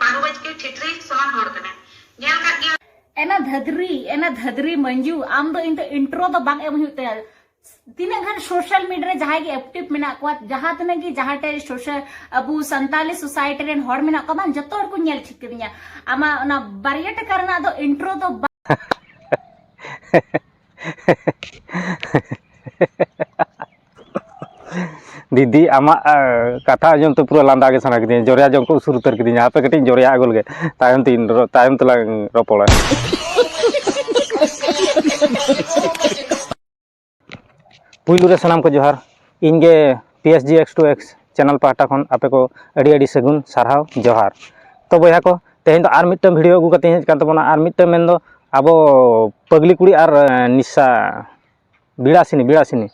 ᱯᱟᱹᱰᱩ ᱵᱟᱪᱠᱮ ᱴᱷᱤᱴᱨᱤ ᱥᱚᱢᱟᱱ ᱦᱚᱲ ᱠᱟᱱᱟᱭ ᱧᱮᱞ ᱠᱟᱜ ᱜᱮᱭᱟ᱾ ᱮᱱᱟ ᱫᱷᱟᱫᱽᱨᱤ ᱮᱱᱟ ᱫᱷᱟᱫᱽᱨᱤ ᱢᱟᱹᱱᱡᱩ ᱟᱢ ᱫᱚ ᱤᱧ ᱫᱚ ᱤᱱᱴᱨᱳ ᱫᱚ ᱵᱟᱝ ᱮᱢ ᱦᱩᱭᱩᱜ ᱛᱟᱭᱟ ᱛᱤᱱᱟᱹᱜ ᱜᱟᱱ ᱥᱳᱥᱟᱞ ᱢᱤᱰᱤᱭᱟ ᱨᱮ ᱡᱟᱦᱟᱸᱭ ᱜᱮ ᱮᱠᱴᱤᱵᱷ ᱢᱮᱱᱟᱜ ᱠᱚᱣᱟ ᱡᱟᱦᱟᱸ ᱛᱤᱱᱟᱹᱜ ᱜᱮ ᱡᱟᱦᱟᱸ ᱴᱷᱮᱡ ᱥᱳᱥᱟᱞ ᱟᱵᱚ ᱥᱟᱱᱛᱟᱞᱤ ᱥᱳᱥᱟᱭᱴᱤ ᱨᱮᱱ ᱦᱚᱲ ᱢᱮᱱᱟᱜ ᱠᱚᱣᱟ ᱵᱟᱝ ᱡᱚᱛᱚ ᱦᱚᱲ ᱠᱚ ᱧᱮᱞ ᱴᱷᱤᱠ ᱠᱟᱹᱫᱤᱧᱟ ᱟᱢᱟᱜ ᱚᱱᱟ ᱵᱟᱨᱭᱟ ᱴᱟᱠᱟ ᱨᱮᱱᱟᱜ ᱫᱚ ᱤᱱᱴᱨᱳ ᱫᱚ ᱫᱤᱫᱤ ᱟᱢᱟᱜ ᱠᱟᱛᱷᱟ ᱟᱸᱡᱚᱢ ᱛᱮ ᱯᱩᱨᱟᱹ ᱞᱟᱸᱫᱟ ᱜᱮ ᱥᱟᱱᱟ ᱠᱤᱫᱤᱧᱟ ᱡᱚᱨᱭᱟ ᱡᱚᱝ ᱠᱚ ᱩᱥᱩᱨ ᱩᱛᱟᱹᱨ ᱠᱤᱫᱤᱧᱟ ᱦᱟᱯᱮ ᱠᱟᱹᱴᱤᱡ ᱤᱧ ᱡᱚᱨᱭᱟ ᱟᱹᱜᱩ ᱞᱮᱜᱮ ᱛᱟᱭᱚᱢ ᱛᱮᱧ ᱛᱟᱭᱚᱢ ᱛᱮᱞᱟᱝ ᱨᱚᱯᱚᱲᱟ ᱯᱩᱭᱞᱩ ᱨᱮ ᱥᱟᱱᱟᱢ ᱠᱚ ᱡᱚᱦᱟᱨ ᱤᱧ ᱜᱮ P S G X two X channel ᱯᱟᱦᱴᱟ ᱠᱷᱚᱱ ᱟᱯᱮ ᱠᱚ ᱟᱹᱰᱤ ᱟᱹᱰᱤ ᱥᱟᱹᱜᱩᱱ ᱥᱟᱨᱦᱟᱣ ᱡᱚᱦᱟᱨ ᱛᱚ ᱵᱚᱭᱦᱟ ᱠᱚ ᱛᱮᱦᱮᱧ ᱫᱚ ᱟᱨ ᱢᱤᱫᱴᱟᱝ ᱵᱷᱤᱰᱤᱭᱳ ᱟᱹᱜᱩ ᱠᱟᱛᱮᱧ ᱦᱮᱡ ᱠᱟᱱ ᱛᱟᱵᱚᱱᱟ ᱟᱨ ᱢᱤᱫᱴᱟᱝ ᱢᱮᱱᱫᱚ ᱟᱵᱚ ᱯᱟᱹᱜᱽᱞᱤ ᱠᱩᱲᱤ ᱟᱨ ᱱᱤᱥᱟ ᱵᱤᱞᱟᱥᱤᱱᱤ ᱵᱤᱞᱟᱥᱤᱱᱤ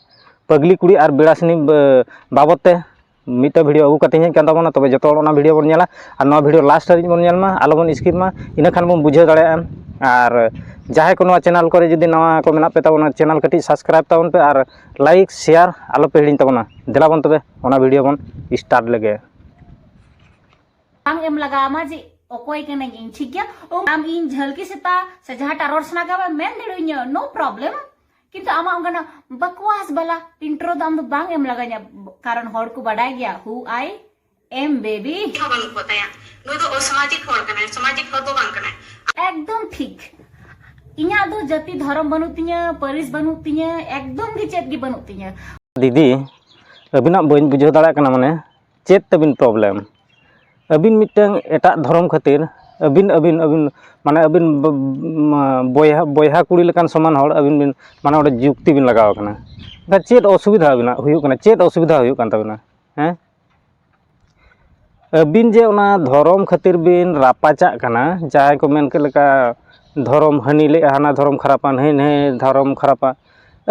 ᱯᱟᱹᱜᱽᱞᱤ ᱠᱩᱲᱤ ᱟᱨ ᱵᱤᱞᱟᱥᱤᱱᱤ ᱵᱟᱵᱚᱫ ᱛᱮ ᱢᱤᱫᱴᱮᱱ ᱵᱷᱤᱰᱭᱳ ᱟᱹᱜᱩ ᱠᱟᱛᱮᱧ ᱦᱮᱡ ᱟᱠᱟᱱ ᱛᱟᱵᱚᱱᱟ ᱛᱚᱵᱮ ᱡᱚᱛᱚ ᱦᱚᱲ ᱚᱱᱟ ᱵᱷᱤᱰᱭᱳ ᱵᱚᱱ ᱧᱮᱞᱟ ᱟᱨ ᱱᱚᱣᱟ ᱵᱷᱤᱰᱭᱳ ᱞᱟᱥᱴ ᱫᱷᱟᱹᱵᱤᱡ ᱵᱚᱱ ᱧᱮᱞ ᱢᱟ ᱟᱞᱚ ᱵᱚᱱ ᱤᱥᱠᱤᱯ ᱢᱟ ᱤᱱᱟᱹ ᱠᱷᱟᱱ ᱵᱚᱱ ᱵᱩᱡᱷᱟᱹᱣ ᱫᱟᱲᱮᱭᱟᱜᱼᱟ ᱟᱨ ᱡᱟᱦᱟᱸᱭ ᱠᱚ ᱱᱚᱣᱟ ᱪᱮᱱᱮᱞ ᱠᱚᱨᱮ ᱡᱩᱫᱤ ᱱᱟᱣᱟ ᱠᱚ ᱢᱮᱱᱟᱜ ᱯᱮ ᱛᱟᱵᱚᱱᱟ ᱪᱮᱱᱮᱞ ᱠᱟᱹᱴᱤᱡ ᱥᱟᱵᱥᱠᱨᱟᱭᱤᱵᱽ ᱛᱟᱵᱚᱱ ᱯᱮ ᱟᱨ ᱞᱟᱭᱤᱠ ᱥᱮᱭᱟᱨ ᱟᱞᱚ ᱯᱮ ᱦᱤᱲᱤᱧ ᱛᱟᱵᱚᱱᱟ ᱫᱮᱞᱟ ᱵᱚᱱ ᱛᱚᱵᱮ ᱚᱱᱟ ᱵᱷᱤᱰᱭᱳ ᱵᱚᱱ ᱥᱴᱟᱨᱴ ᱞᱮᱜᱮ ᱵᱟᱝ ᱮᱢ ᱞᱟᱜᱟᱣᱟᱢᱟ ᱡᱮ ᱚᱠᱚᱭ ᱠᱟᱹᱱᱟᱹᱧ ᱤᱧ ᱴᱷᱤᱠ ᱜᱮᱭᱟ ᱟᱢ ᱤᱧ ᱡᱷᱟᱹᱞᱠᱤ ᱥᱮᱛᱟ ᱥᱮ ᱡᱟᱦᱟᱸᱴᱟᱜ ᱨᱚᱲ ᱥᱟᱱᱟ ᱠᱟᱢᱟ ᱢᱮᱱ ᱫᱟᱲᱮᱣᱟᱹᱧᱟ ᱱᱳ ᱯᱨᱚᱵᱞᱮᱢ ᱠᱤᱱᱛᱩ ᱟᱢᱟᱜ ᱚᱱᱠᱟᱱᱟᱜ ᱵᱟᱠᱣᱟᱥ ᱵᱟᱞᱟ ᱤᱱᱴᱨᱳ ᱫᱚ ᱟᱢ ᱫᱚ ᱵᱟᱝ ᱮᱢ ᱞᱟᱜᱟᱧᱟ ᱠᱟᱨᱚᱱ ᱦᱚᱲ ᱠᱚ ᱵᱟᱰᱟᱭ ᱜᱮᱭᱟ ᱦᱩ ᱟᱭ ᱮᱢ ᱵᱮᱵᱤ ᱦᱚᱸ ᱵᱟᱹᱱᱩᱜ ᱠᱚ ᱛᱟᱭᱟ ᱱᱩᱭ ᱫᱚ ᱚᱥᱟᱢᱟᱡᱤᱠ ᱦᱚᱲ ᱠᱟᱱᱟᱭ ᱥᱟᱢᱟᱡᱤᱠ ᱦᱚᱲ ᱫᱚ ᱵᱟᱝ ᱠᱟᱱᱟᱭ ᱮᱠᱫᱚᱢ ᱴᱷᱤᱠ ᱤᱧᱟᱹᱜ ᱫᱚ ᱡᱟᱹᱛᱤ ᱫᱷᱚᱨᱚᱢ ᱵᱟᱹᱱᱩᱜ ᱛᱤᱧᱟᱹ ᱯᱟᱹᱨᱤᱥ ᱵᱟᱹᱱᱩᱜ ᱛᱤᱧᱟᱹ ᱮᱠᱫᱚᱢ ᱜᱮ ᱪᱮᱫ ᱜᱮ ᱵᱟᱹᱱᱩᱜ ᱛᱤᱧᱟᱹ ᱫᱤᱫᱤ ᱟᱹᱵᱤᱱᱟᱜ ᱵᱟᱹᱧ ᱵᱩᱡᱷᱟᱹᱣ ᱫᱟᱲᱮᱭᱟᱜ ᱠᱟᱱᱟ ᱢᱟᱱᱮ ᱪᱮᱫ ᱛᱟᱹᱵᱤᱱ ᱯᱨᱚᱵᱞᱮᱢ ᱟᱹᱵᱤᱱ ᱢᱤᱫᱴᱟᱹᱝ ᱮᱴᱟᱜ ᱫᱷᱚᱨᱚᱢ ᱠᱷᱟᱹᱛᱤᱨ ᱟᱹᱵᱤᱱ ᱟᱹᱵᱤᱱ ᱟᱹᱵᱤᱱ ᱢᱟᱱᱮ ᱟᱹᱵᱤᱱ ᱵᱚᱭᱦᱟ ᱵᱚᱭᱦᱟ ᱠᱩᱲᱤ ᱞᱮᱠᱟᱱ ᱥᱚᱢᱟᱱ ᱦᱚᱲ ᱟᱹᱵᱤᱱ ᱵᱤᱱ ᱢᱟᱱᱮ ᱚᱸᱰᱮ ᱡᱩᱠᱛᱤ ᱵᱤᱱ ᱞᱟᱜᱟᱣ ᱠᱟᱱᱟ ᱮᱱᱠᱷᱟᱱ ᱪᱮᱫ ᱚᱥᱩᱵᱤᱫᱷᱟ ᱟᱹᱵᱤᱱᱟᱜ ᱦᱩᱭᱩᱜ ᱠᱟᱱᱟ ᱪᱮᱫ ᱚᱥᱩᱵᱤᱫᱷᱟ ᱦᱩᱭᱩᱜ ᱠᱟᱱ ᱛᱟᱹᱵᱤᱱᱟ ᱦᱮᱸ ᱟᱹᱵᱤᱱ ᱡᱮ ᱚᱱᱟ ᱫᱷᱚᱨᱚᱢ ᱠᱷᱟᱹᱛᱤᱨ ᱵᱤᱱ ᱨᱟᱯᱟᱪᱟᱜ ᱠᱟᱱᱟ ᱡᱟᱦᱟᱸᱭ ᱠᱚ ᱢᱮᱱ ᱠᱮᱫ ᱞᱮᱠᱟ ᱫᱷᱚᱨᱚᱢ ᱦᱟᱹᱱᱤ ᱞᱟᱹᱭᱮᱫᱼᱟ ᱦᱟᱱᱟ ᱫᱷᱚᱨᱚᱢ ᱠᱷᱟᱨᱟᱯᱟ ᱱᱟᱹᱭ ᱱᱟᱹᱭ ᱫᱷᱚᱨᱚᱢ ᱠᱷᱟᱨᱟᱯᱟ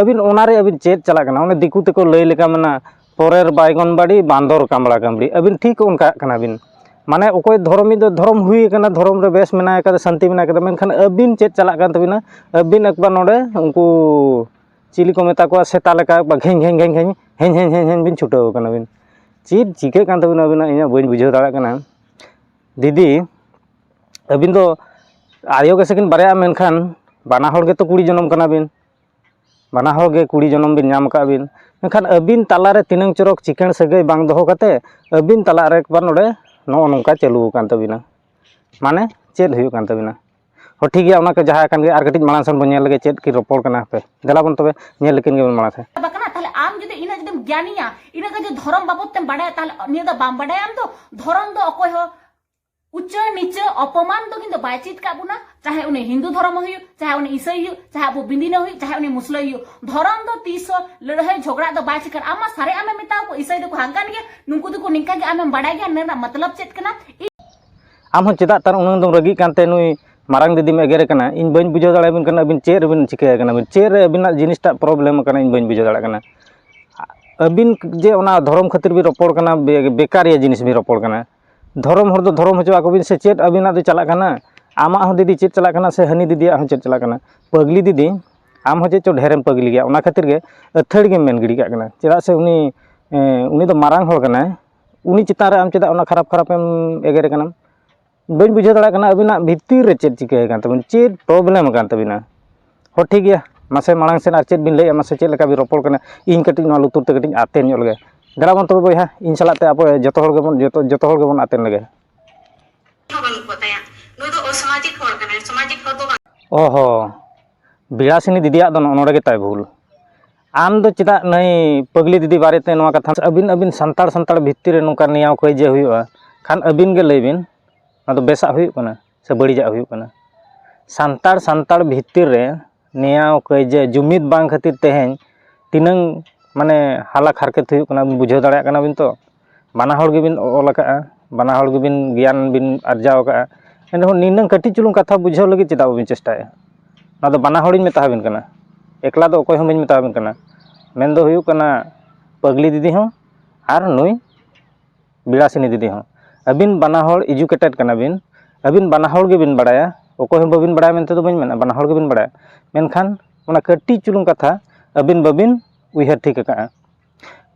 ᱟᱹᱵᱤᱱ ᱚᱱᱟᱨᱮ ᱟᱹᱵᱤᱱ ᱪᱮᱫ ᱪᱟᱞᱟᱜ ᱠᱟᱱᱟ ᱚᱱᱮ ᱫᱤᱠᱩ ᱛᱮᱠᱚ ᱞᱟᱹᱭ ᱞᱮᱠᱟ ᱢᱮᱱᱟ ᱯᱚᱨᱮᱨ ᱵᱟᱭᱜᱚᱱᱵᱟᱲᱤ ᱵᱟᱸᱫᱚᱨ ᱠᱟᱢᱲᱟ ᱠᱟᱢᱲᱤ ᱟᱹᱵᱤᱱ ᱴᱷᱤᱠ ᱚᱱᱠᱟᱜ ᱠᱟᱱᱟ ᱵᱤᱱ ᱢᱟᱱᱮ ᱚᱠᱚᱭ ᱫᱷᱚᱨᱚᱢᱤ ᱫᱚ ᱫᱷᱚᱨᱚᱢ ᱦᱩᱭ ᱟᱠᱟᱱᱟ ᱫᱷᱚᱨᱚᱢ ᱨᱮ ᱵᱮᱥ ᱢᱮᱱᱟᱭ ᱠᱟᱫᱟ ᱥᱟᱱᱛᱤ ᱢᱮᱱᱟᱭ ᱠᱟᱫᱟ ᱢᱮᱱᱠᱷᱟᱱ ᱟᱹᱵᱤᱱ ᱪᱮᱫ ᱪᱟᱞᱟᱜ ᱠᱟᱱ ᱛᱟᱹᱵᱤᱱᱟ ᱟᱹᱵᱤᱱ ᱮᱠᱵᱟᱨ ᱱᱚᱰᱮ ᱩᱱᱠᱩ ᱪᱤᱞᱤ ᱠᱚ ᱢᱮᱛᱟ ᱠᱚᱣᱟ ᱥᱮᱛᱟ ᱞᱮᱠᱟ ᱮᱠᱵᱟᱨ ᱜᱷᱮᱧ ᱜᱷᱮᱧ ᱜᱷᱮᱧ ᱜᱷᱮᱧ ᱦᱮᱧ ᱦᱮᱧ ᱦᱮᱧ ᱦᱮᱧ ᱵᱤᱱ ᱪᱷᱩᱴᱟᱹᱣ ᱟᱠᱟᱱᱟ ᱵᱤᱱ ᱪᱮᱫ ᱪᱤᱠᱟᱹᱜ ᱠᱟᱱ ᱛᱟᱹᱵᱤᱱᱟ ᱟᱹᱵᱤᱱᱟᱜ ᱤᱧᱟᱹᱜ ᱵᱟᱹᱧ ᱵᱩᱡᱷᱟᱹᱣ ᱫᱟᱲᱮᱭᱟᱜ ᱠᱟᱱᱟ ᱫᱤᱫᱤ ᱟᱹᱵᱤᱱ ᱫᱚ ᱟᱭᱳ ᱜᱮᱥᱮ ᱠᱤᱱ ᱵᱟᱨᱭᱟᱜᱼᱟ ᱢᱮᱱᱠᱷᱟᱱ ᱵᱟᱱᱟ ᱦᱚᱲ ᱜᱮᱛᱚ ᱠᱩᱲᱤ ᱡᱚᱱᱚᱢ ᱠᱟᱱᱟ ᱵᱤᱱ ᱵᱟᱱᱟ ᱦᱚᱲ ᱜᱮ ᱠᱩᱲᱤ ᱡᱚᱱᱚᱢ ᱵᱤᱱ ᱧᱟᱢ ᱟᱠᱟᱫ ᱵᱤᱱ ᱢᱮᱱᱠᱷᱟᱱ ᱟᱹᱵᱤᱱ ᱛᱟᱞᱟ ᱨᱮ ᱛᱤᱱᱟᱹᱝ ᱪᱚᱨᱚᱠ ᱪᱤᱠᱟᱹᱲ ᱥᱟᱹᱜᱟᱹᱭ ᱵᱟᱝ ᱫᱚᱦᱚ ᱠᱟᱛᱮᱫ ᱟᱹᱵᱤᱱ ᱛᱟᱞᱟ ᱨᱮ ᱮᱠᱵᱟᱨ ᱱᱚᱰᱮ ᱱᱚᱜᱼᱚ ᱱᱚᱝᱠᱟ ᱪᱟᱹᱞᱩ ᱟᱠᱟᱱ ᱛᱟᱹᱵᱤᱱᱟ ᱢᱟᱱᱮ ᱪᱮᱫ ᱦᱩᱭᱩᱜ ᱠᱟᱱ ᱛᱟᱹᱵᱤᱱᱟ ᱦᱚᱸ ᱴᱷᱤᱠ ᱜᱮᱭᱟ ᱚᱱᱟ ᱠᱚ ᱡᱟᱦᱟᱸ ᱟᱠᱟᱱ ᱜᱮ ᱟᱨ ᱠᱟᱹᱴᱤᱡ ᱢᱟᱲᱟᱝ ᱥᱮᱱ ᱵᱚᱱ ᱧᱮᱞ ᱞᱮᱜᱮ ᱪᱮᱫ ᱠᱤᱱ ᱨᱚᱯᱚᱲ ᱠᱟᱱᱟ ᱦᱟᱯᱮ ᱫᱮᱞᱟ ᱵᱚᱱ ᱛᱚᱵᱮ ᱧᱮᱞ ᱞᱮᱠᱤᱱ ᱜᱮᱵᱚᱱ ᱢᱟᱲᱟᱝ ᱥᱮᱱ ᱵᱟᱠᱟᱱᱟ ᱛᱟᱦᱞᱮ ᱟᱢ ᱡᱩᱫᱤ ᱤᱱᱟᱹ ᱡᱩᱫᱤᱢ ᱜᱮᱭᱟᱱᱤᱭᱟ ᱤᱱᱟᱹ ᱠᱟᱛᱮ ᱫᱷᱚᱨᱚᱢ ᱵᱟᱵᱚᱫ ᱛᱮᱢ ᱵᱟᱰᱟᱭᱟ ᱛᱟᱦᱞᱮ ᱱᱤᱭᱟᱹ ᱫᱚ ᱵᱟᱢ ᱵᱟᱰᱟᱭᱟ ᱟᱢ ᱫᱚ ᱫᱷᱚᱨᱚᱢ ᱫᱚ ᱚᱠᱚᱭ ᱦᱚᱸ ᱩᱪᱟᱹ ᱱᱤᱪᱟᱹ ᱚᱯᱚᱢᱟᱱ ᱫᱚ ᱠᱤᱱᱛᱩ ᱵᱟᱭ ᱪᱮᱫ ᱠᱟᱜ ᱵᱚᱱᱟ ᱪᱟᱦᱮ ᱩᱱᱤ ᱦᱤᱱᱫᱩ ᱫᱷᱚᱨᱚᱢ ᱦᱩᱭᱩᱜ ᱪᱟᱦᱮ ᱩᱱᱤ ᱤᱥᱟᱹᱭ ᱦᱩᱭᱩᱜ ᱪᱟᱦᱮ ᱟᱵᱚ ᱵᱤᱱᱫᱤᱱᱟ ᱦᱩᱭᱩᱜ ᱪᱟᱦᱮ ᱩᱱᱤ ᱢᱩᱥᱞᱟᱹ ᱦᱩᱭᱩᱜ ᱫᱷᱚᱨᱚᱢ ᱫᱚ ᱛᱤᱥ ᱦᱚᱸ ᱞᱟᱹᱲᱦᱟᱹᱭ ᱡᱷᱚᱜᱽᱲᱟ ᱫᱚ ᱵᱟᱭ ᱪᱤᱠᱟᱹ ᱟᱢ ᱢᱟ ᱥᱟᱨᱮ ᱟᱢᱮ ᱢᱮᱛᱟᱣ ᱠᱚ ᱤᱥᱟᱹᱭ ᱫᱚᱠᱚ ᱦᱟᱝᱠᱟᱱ ᱜᱮᱭᱟ ᱱᱩᱠᱩ ᱫᱚᱠᱚ ᱱᱤᱝᱠᱟ ᱜᱮ ᱟᱢᱮᱢ ᱵᱟᱰᱟᱭ ᱜᱮᱭᱟ ᱱᱚᱣᱟ ᱨᱮᱱᱟᱜ ᱢᱚᱛᱞᱚᱵ ᱪᱮᱫ ᱠᱟᱱᱟ ᱟᱢ ᱦᱚᱸ ᱪᱮᱫᱟᱜ ᱛᱟᱨ ᱩᱱᱟᱹᱝ ᱫᱚᱢ ᱨᱟᱹᱜᱤᱜ ᱠᱟᱱᱛᱮ ᱱᱩᱭ ᱢᱟᱨᱟᱝ ᱫᱤᱫᱤᱢ ᱮᱜᱮᱨᱮ ᱠᱟᱱᱟ ᱤᱧ ᱵᱟᱹᱧ ᱵᱩᱡᱷᱟᱹᱣ ᱫᱟᱲᱮᱭᱟᱵᱤᱱ ᱠᱟᱱᱟ ᱟᱹᱵᱤᱱ ᱪᱮᱫ ᱨᱮᱵᱤᱱ ᱪᱤᱠᱟᱹᱭᱮ ᱠᱟᱱᱟ ᱵᱤᱱ ᱪᱮᱫ ᱨᱮ ᱟᱹᱵᱤᱱᱟᱜ ᱡᱤᱱᱤᱥᱴᱟᱜ ᱯᱨᱚᱵᱞᱮᱢ ᱠᱟᱱᱟ ᱤᱧ ᱵᱟᱹᱧ ᱵᱩᱡᱷᱟᱹᱣ ᱫᱟᱲᱮᱭᱟᱜ ᱠᱟᱱᱟ ᱟᱹᱵᱤᱱ ᱡᱮ ᱚᱱᱟ ᱫᱷᱚᱨᱚᱢ ᱠᱷᱟᱹᱛᱤᱨ ᱵᱤᱱ ᱨᱚᱯᱚᱲ ᱠᱟᱱᱟ ᱵᱮᱠᱟᱨᱤᱭᱟᱹ ᱡᱤᱱᱤᱥ ᱵᱤᱱ ᱨᱚᱯᱚᱲ ᱠᱟᱱᱟ ᱫᱷᱚᱨᱚᱢ ᱦᱚᱲ ᱫᱚ ᱫᱷᱚᱨᱚᱢ ᱦᱚᱪᱚ ᱟᱠᱚ ᱵᱤᱱ ᱥᱮ ᱪᱮᱫ ᱟᱹᱵᱤᱱᱟᱜ ᱫᱚ ᱪᱟᱞᱟᱜ ᱠᱟᱱᱟ ᱟᱢᱟᱜ ᱦᱚᱸ ᱫᱤᱫᱤ ᱪᱮᱫ ᱪᱟᱞᱟᱜ ᱠᱟᱱᱟ ᱥᱮ ᱦᱟᱹᱱᱤ ᱫᱤᱫᱤᱭᱟᱜ ᱦᱚᱸ ᱪᱮᱫ ᱪᱟᱞᱟᱜ ᱠᱟᱱᱟ ᱯᱟᱹᱜᱽᱞᱤ ᱫᱤᱫᱤ ᱟᱢ ᱦᱚᱸ ᱪᱮᱫ ᱪᱚᱝ ᱰᱷᱮᱨᱮᱢ ᱯᱟᱹᱜᱽᱞᱤ ᱜᱮᱭᱟ ᱚᱱᱟ ᱠᱷᱟᱹᱛᱤᱨ ᱜᱮ ᱟᱹᱛᱷᱟᱹᱲᱤ ᱜᱮᱢ ᱢᱮᱱ ᱜᱤᱰᱤ ᱠᱟᱜ ᱠᱟᱱᱟ ᱪᱮᱫᱟᱜ ᱥᱮ ᱩᱱᱤ ᱩᱱᱤ ᱫᱚ ᱢᱟᱨᱟᱝ ᱦᱚᱲ ᱠᱟᱱᱟᱭ ᱩᱱᱤ ᱪᱮᱛᱟᱱ ᱨᱮ ᱟᱢ ᱪᱮᱫᱟᱜ ᱚᱱᱟ ᱠᱷᱟᱨᱟᱯ ᱠᱷᱟᱨᱟᱯ ᱮᱢ ᱮᱜᱮᱨᱮ ᱠᱟᱱᱟᱢ ᱵᱟᱹᱧ ᱵᱩᱡᱷᱟᱹᱣ ᱫᱟᱲᱮᱭᱟᱜ ᱠᱟᱱᱟ ᱟᱹᱵᱤᱱᱟᱜ ᱵᱷᱤᱛᱤᱨ ᱨᱮ ᱪᱮᱫ ᱪᱤᱠᱟᱹ ᱟᱠᱟᱱ ᱛᱟᱹᱵᱤᱱᱟ ᱪᱮᱫ ᱯᱨᱚᱵᱞᱮᱢ ᱟᱠᱟᱱ ᱛᱟᱹᱵᱤᱱᱟ ᱦᱚᱸ ᱴᱷᱤᱠ ᱜᱮᱭᱟ ᱢᱟᱥᱮ ᱢᱟᱲᱟᱝ ᱥᱮᱫ ᱟᱨ ᱪᱮᱫ ᱵᱤᱱ ᱞᱟᱹᱭᱮᱫᱼᱟ ᱢᱟᱥᱮ ᱪᱮᱫ ᱞᱮᱠᱟ ᱵᱤᱱ ᱨᱚᱯᱚᱲ ᱠᱟᱱᱟ ᱤᱧ ᱠᱟᱹᱴᱤᱡ ᱱᱚᱣᱟ ᱞᱩᱛᱩᱨ ᱛᱮ ᱠᱟᱹᱴᱤᱡ ᱟᱛᱮᱱ ᱧᱚᱜ ᱞᱮᱜᱮ ᱫᱮᱞᱟ ᱵᱚᱱ ᱛᱚᱵᱮ ᱵᱚᱭᱦᱟ ᱤᱧ ᱥᱟᱞᱟᱜ ᱛᱮ ᱟᱵᱚ ᱡᱚᱛᱚ ᱦᱚᱲ ᱜᱮᱵᱚᱱ ᱡᱚᱛᱚ ᱦᱚᱲ ᱜᱮᱵᱚᱱ ᱟᱛᱮᱱ ᱞᱮᱜᱮ ᱦᱚᱸ ᱵᱟᱹᱱᱩᱜ ᱠᱚ ᱛᱟᱭᱟ ᱱᱩᱭ ᱫᱚ ᱚᱥᱟᱢᱟᱡᱤᱠ ᱦᱚᱲ ᱠᱟᱱᱟᱭ ᱥᱟᱢᱟᱡᱤᱠ ᱦᱚᱲ ᱫᱚ ᱵᱟᱝ ᱚ ᱦᱚᱸ ᱵᱤᱞᱟᱥᱤᱱᱤ ᱫᱤᱫᱤᱭᱟᱜ ᱫᱚ ᱱᱚᱰᱮ ᱜᱮ ᱛᱟᱭ ᱵᱷᱩᱞ ᱟᱢ ᱫᱚ ᱪᱮᱫᱟᱜ ᱱᱟᱹᱭ ᱯᱟᱹᱜᱽᱞᱤ ᱫᱤᱫᱤ ᱵᱟᱨᱮ ᱛᱮ ᱱᱚᱣᱟ ᱠᱟᱛᱷᱟ ᱟᱹᱵᱤᱱ ᱟᱹᱵᱤᱱ ᱥᱟᱱᱛᱟᱲ ᱥᱟᱱᱛᱟᱲ ᱵᱷᱤᱛᱤᱨ ᱨᱮ ᱱᱚᱝᱠᱟ ᱱᱮᱭᱟᱣ ᱠᱟᱹᱭᱡᱟᱹ ᱦᱩᱭᱩᱜᱼᱟ ᱠᱷᱟᱱ ᱟᱹᱵᱤᱱ ᱜᱮ ᱞᱟᱹᱭ ᱵᱤᱱ ᱟᱫᱚ ᱵᱮᱥᱟᱜ ᱦᱩᱭᱩᱜ ᱠᱟᱱᱟ ᱥᱮ ᱵᱟᱹᱲᱤᱡᱟᱜ ᱦᱩᱭᱩᱜ ᱠᱟᱱᱟ ᱥᱟᱱᱛᱟᱲ ᱥᱟᱱᱛᱟᱲ ᱵᱷᱤᱛᱤᱨ ᱨᱮ ᱱᱮᱭᱟᱣ ᱠᱟᱹᱭᱡᱟᱹ ᱡᱩᱢᱤᱫ ᱵᱟᱝ ᱠᱷᱟᱹᱛᱤᱨ ᱛᱮᱦᱮᱧ ᱛᱤᱱᱟᱹᱝ ᱢᱟᱱᱮ ᱦᱟᱞᱟᱠ ᱦᱟᱨᱠᱮᱛ ᱦᱩᱭᱩᱜ ᱠᱟᱱᱟ ᱵᱩᱡᱷᱟᱹᱣ ᱫᱟᱲᱮᱭᱟᱜ ᱠᱟᱱᱟ ᱵᱤᱱ ᱛᱚ ᱵᱟᱱᱟ ᱦᱚᱲ ᱜᱮᱵᱤᱱ ᱚᱞ ᱠᱟᱜᱼᱟ ᱵᱟᱱᱟ ᱦᱚᱲ ᱜᱮᱵᱤᱱ ᱜᱮᱭᱟᱱ ᱵᱤᱱ ᱟᱨᱡᱟᱣ ᱠᱟᱜᱼᱟ ᱮᱱ ᱨᱮᱦᱚᱸ ᱱᱤᱱᱟᱹᱝ ᱠᱟᱹᱴᱤᱡ ᱪᱩᱞᱩᱝ ᱠᱟᱛᱷᱟ ᱵᱩᱡᱷᱟᱹᱣ ᱞᱟᱹᱜᱤᱫ ᱪᱮᱫᱟᱜ ᱵᱟᱹᱵᱤᱱ ᱪᱮᱥᱴᱟᱭᱮᱜᱼᱟ ᱱᱚᱣᱟ ᱫᱚ ᱵᱟᱱᱟ ᱦᱚᱲᱤᱧ ᱢᱮᱛᱟ ᱵᱤᱱ ᱠᱟᱱᱟ ᱮᱠᱞᱟ ᱫᱚ ᱚᱠᱚᱭ ᱦᱚᱸ ᱵᱟᱹᱧ ᱢᱮᱛᱟ ᱵᱤᱱ ᱠᱟᱱᱟ ᱢᱮᱱᱫᱚ ᱦᱩᱭᱩᱜ ᱠᱟᱱᱟ ᱯᱟᱹᱜᱽᱞᱤ ᱫᱤᱫᱤ ᱦᱚᱸ ᱟᱨ ᱱᱩᱭ ᱵᱤᱞᱟᱥᱤᱱᱤ ᱫᱤᱫᱤ ᱦᱚᱸ ᱟᱹᱵᱤᱱ ᱵᱟᱱᱟ ᱦᱚᱲ ᱮᱰᱩᱠᱮᱴᱮᱰ ᱠᱟᱱᱟ ᱵᱤᱱ ᱟᱹᱵᱤᱱ ᱵᱟᱱᱟ ᱦᱚᱲ ᱜᱮᱵᱤᱱ ᱵᱟᱲᱟᱭᱟ ᱚᱠᱚᱭ ᱦᱚᱸ ᱵᱟᱹᱵᱤᱱ ᱵᱟᱲᱟᱭᱟ ᱢᱮᱱᱛᱮ ᱫᱚ ᱵᱟᱹᱧ ᱢᱮᱱᱟ ᱵᱟᱱᱟ ᱦᱚᱲ ᱜᱮᱵᱤᱱ ᱵᱟᱲᱟᱭᱟ ᱢᱮᱱᱠᱷᱟᱱ ᱚᱱᱟ ᱠᱟᱹᱴᱤᱡ ᱪᱩᱞᱩᱝ ᱠᱟᱛᱷᱟ ᱟᱹᱵᱤᱱ ᱵᱟᱹᱵᱤᱱ ᱩᱭᱦᱟᱹᱨ ᱴᱷᱤᱠ ᱟᱠᱟᱫᱼᱟ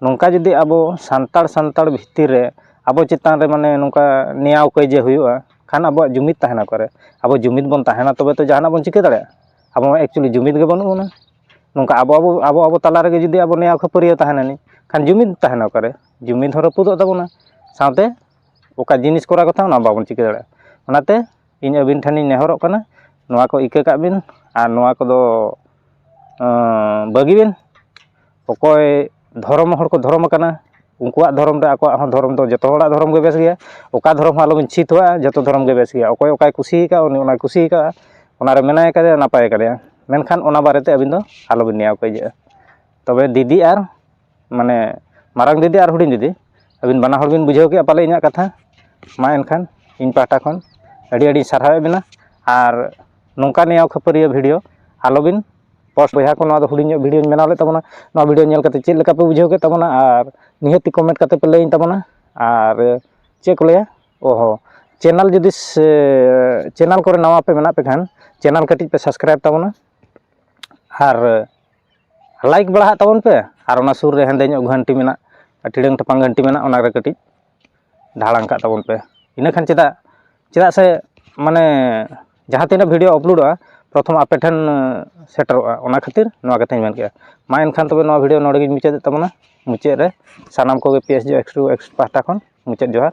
ᱱᱚᱝᱠᱟ ᱡᱩᱫᱤ ᱟᱵᱚ ᱥᱟᱱᱛᱟᱲ ᱥᱟᱱᱛᱟᱲ ᱵᱷᱤᱛᱤᱨ ᱨᱮ ᱟᱵᱚ ᱪᱮᱛᱟᱱ ᱨᱮ ᱢᱟᱱᱮ ᱱᱚᱝᱠᱟ ᱱᱮᱭᱟᱣ ᱠᱟᱹᱭᱡᱟᱹ ᱦᱩᱭᱩᱜᱼᱟ ᱠᱷᱟᱱ ᱟᱵᱚᱣᱟᱜ ᱡᱩᱢᱤᱫ ᱛᱟᱦᱮᱱᱟ ᱚᱠᱟᱨᱮ ᱟᱵᱚ ᱡᱩᱢᱤᱫ ᱵᱚᱱ ᱛᱟᱦᱮᱱᱟ ᱛᱚᱵᱮ ᱛᱚ ᱡᱟᱦᱟᱱᱟᱜ ᱵᱚᱱ ᱪᱤᱠᱟᱹ ᱫᱟᱲᱮᱭᱟᱜᱼᱟ ᱟᱵᱚ ᱢᱟ ᱮᱠᱪᱩᱞᱞᱤ ᱡᱩᱢᱤᱫ ᱜᱮ ᱵᱟᱹᱱᱩᱜ ᱵᱚᱱᱟ ᱱᱚᱝᱠᱟ ᱟᱵᱚ ᱟᱵᱚ ᱟᱵᱚ ᱟᱵᱚ ᱛᱟᱞᱟ ᱨᱮᱜᱮ ᱡᱩᱫᱤ ᱟᱵᱚ ᱱᱮᱭᱟᱣ ᱠᱷᱟᱹᱯᱟᱹᱨᱤᱭᱟᱹ ᱛᱟᱦᱮᱱᱟᱞᱤᱧ ᱠᱷᱟᱱ ᱡᱩᱢᱤᱫ ᱛᱟᱦᱮᱱᱟ ᱚᱠᱟᱨᱮ ᱡᱩᱢᱤᱫ ᱦᱚᱸ ᱨᱟᱹᱯᱩᱫᱚᱜ ᱛᱟᱵᱚᱱᱟ ᱥᱟᱶᱛᱮ ᱚᱠᱟ ᱡᱤᱱᱤᱥ ᱠᱚᱨᱟᱣ ᱠᱟᱛᱷᱟ ᱚᱱᱟ ᱦᱚᱸ ᱵᱟᱵᱚᱱ ᱪᱤᱠᱟᱹ ᱫᱟᱲᱮᱭᱟᱜᱼᱟ ᱚᱱᱟᱛᱮ ᱤᱧ ᱟᱹᱵᱤᱱ ᱴᱷᱮᱱᱤᱧ ᱱᱮᱦᱚᱨᱚᱜ ᱠᱟᱱᱟ ᱱᱚᱣᱟ ᱠᱚ ᱤᱠᱟᱹ ᱠᱟᱜ ᱵᱤᱱ ᱟᱨ ᱱᱚᱣᱟ ᱠᱚᱫᱚ ᱵᱟᱹᱜᱤ ᱵᱤᱱ ᱚᱠᱚᱭ ᱫᱷᱚᱨᱚᱢ ᱦᱚᱲ ᱠᱚ ᱫᱷᱚᱨᱚᱢ ᱟᱠᱟᱱᱟ ᱩᱱᱠᱩᱣᱟᱜ ᱫᱷᱚᱨᱚᱢ ᱫᱚ ᱟᱠᱚᱣᱟᱜ ᱦᱚᱸ ᱫᱷᱚᱨᱚᱢ ᱫᱚ ᱡᱚᱛᱚ ᱦᱚᱲᱟᱜ ᱫᱷᱚᱨᱚᱢ ᱜᱮ ᱵᱮᱥ ᱜᱮᱭᱟ ᱚᱠᱟ ᱫᱷᱚᱨᱚᱢ ᱦᱚᱸ ᱟᱞᱚᱵᱤᱱ ᱪᱷᱤ ᱛᱷᱩᱣᱟᱜᱼᱟ ᱡᱚᱛᱚ ᱫᱷᱚᱨᱚᱢ ᱜᱮ ᱵᱮᱥ ᱜᱮᱭᱟ ᱚᱠᱚᱭ ᱚᱠᱟᱭ ᱠᱩᱥᱤ ᱠᱟᱜᱼᱟ ᱩᱱᱤ ᱚᱱᱟᱭ ᱠᱩᱥᱤ ᱠᱟᱜᱼᱟ ᱚᱱᱟᱨᱮ ᱢᱮᱱᱟᱭ ᱠᱟᱫᱮᱭᱟ ᱱᱟᱯᱟᱭ ᱠᱟᱫᱮᱭᱟ ᱢᱮᱱᱠᱷᱟᱱ ᱚᱱᱟ ᱵᱟᱨᱮᱛᱮ ᱟᱹᱵᱤᱱ ᱫᱚ ᱟᱞᱚᱵᱤᱱ ᱱᱮᱭᱟᱣ ᱠᱟᱹᱭᱡᱟᱹᱜᱼᱟ ᱛᱚᱵᱮ ᱫᱤᱫᱤ ᱟᱨ ᱢᱟᱱᱮ ᱢᱟᱨᱟᱝ ᱫᱤᱫᱤ ᱟᱨ ᱦᱩᱰᱤᱧ ᱫᱤᱫᱤ ᱟᱹᱵᱤᱱ ᱵᱟᱱᱟ ᱦᱚᱲ ᱵᱤᱱ ᱵᱩᱡᱷᱟᱹᱣ ᱠᱮᱜᱼᱟ ᱯᱟᱞᱮ ᱤᱧᱟᱹᱜ ᱠᱟᱛᱷᱟ ᱢᱟ ᱮᱱᱠᱷᱟᱱ ᱤᱧ ᱯᱟᱦᱴᱟ ᱠᱷᱚᱱ ᱟᱹᱰᱤ ᱟᱹᱰᱤ ᱥᱟᱨᱦᱟᱣᱮᱫ ᱵᱮᱱᱟ ᱟᱨ ᱱᱚᱝᱠᱟ ᱱᱮᱭᱟᱣ ᱠᱷᱟᱹᱯᱟᱹᱨᱤᱭᱟᱹ ᱵᱷᱤᱰᱭᱳ ᱟᱞᱚ ᱵᱤᱱ ᱯᱳᱥᱴ ᱵᱚᱭᱦᱟ ᱠᱚ ᱱᱚᱣᱟ ᱫᱚ ᱦᱩᱰᱤᱧ ᱧᱚᱜ ᱵᱷᱤᱰᱭᱳᱧ ᱵᱮᱱᱟᱣ ᱞᱮᱫ ᱛᱟᱵᱚᱱᱟ ᱱᱚᱣᱟ ᱵᱷᱤᱰᱭᱳ ᱧᱮᱞ ᱠᱟᱛᱮᱫ ᱪᱮᱫ ᱞᱮᱠᱟ ᱯᱮ ᱵᱩᱡᱷᱟᱹᱣ ᱠᱮᱫ ᱛᱟᱵᱚᱱᱟ ᱟᱨ ᱱᱤᱦᱟᱹᱛᱤ ᱠᱚᱢᱮᱱᱴ ᱠᱟᱛᱮᱫ ᱯᱮ ᱞᱟᱹᱭᱟᱹᱧ ᱛᱟᱵᱚᱱᱟ ᱟᱨ ᱪᱮᱫ ᱠᱚ ᱞᱟᱹᱭᱟ ᱚ ᱦᱚᱸ ᱪᱮᱱᱮᱞ ᱡᱩᱫᱤ ᱪᱮᱱᱮᱞ ᱠᱚᱨᱮ ᱱᱟᱣᱟ ᱯᱮ ᱢᱮᱱᱟᱜ ᱯᱮ ᱠᱷᱟᱱ ᱪᱮᱱᱮᱞ ᱠᱟᱹᱴᱤᱡ ᱯᱮ ᱥᱟᱵᱥᱠᱨᱟᱭᱤᱵᱽ ᱛᱟᱵᱚᱱᱟ ᱟᱨ ᱞᱟᱭᱤᱠ ᱵᱟᱲᱟᱦᱟᱜ ᱛᱟᱵᱚᱱ ᱯᱮ ᱟᱨ ᱚᱱᱟ ᱥᱩᱨ ᱨᱮ ᱦᱮᱸᱫᱮ ᱧᱚᱜ ᱜᱷᱟᱱᱴᱤ ᱢᱮᱱᱟᱜ ᱴᱤᱲᱟᱹᱝ ᱴᱟᱯᱟᱝ ᱜᱷᱟᱱᱴᱤ ᱢᱮᱱᱟᱜ ᱚᱱᱟᱨᱮ ᱠᱟᱹᱴᱤᱡ ᱫᱷᱟᱲᱟᱝ ᱠᱟᱜ ᱛᱟᱵᱚᱱ ᱯᱮ ᱤᱱᱟᱹ ᱠᱷᱟᱱ ᱪᱮᱫᱟᱜ ᱪᱮᱫᱟᱜ ᱥᱮ ᱢᱟᱱᱮ ᱡᱟᱦᱟᱸ ᱛᱤᱱᱟᱹᱜ ᱵᱷᱤᱰᱭᱳ ᱟᱯᱞᱳᱰᱚᱜᱼᱟ ᱯᱨᱚᱛᱷᱚᱢ ᱟᱯᱮ ᱴᱷᱮᱱ ᱥᱮᱴᱮᱨᱚᱜᱼᱟ ᱚᱱᱟ ᱠᱷᱟᱹᱛᱤᱨ ᱱᱚᱣᱟ ᱠᱟᱛᱷᱟᱧ ᱢᱮᱱ ᱠᱮᱫᱼᱟ ᱢᱟ ᱮᱱᱠᱷᱟᱱ ᱛᱚᱵᱮ ᱱᱚᱣᱟ ᱵᱷᱤᱰᱭᱳ ᱱᱚᱰᱮ ᱜᱤᱧ ᱢᱩᱪᱟᱹᱫᱮᱫ ᱛᱟᱵᱚᱱᱟ ᱢᱩᱪᱟᱹᱫ ᱨᱮ ᱥᱟᱱᱟᱢ ᱠᱚᱜᱮ P S G X two X ᱯᱟᱦᱴᱟ ᱠᱷᱚᱱ ᱢᱩᱪᱟᱹᱫ ᱡᱚᱦᱟᱨ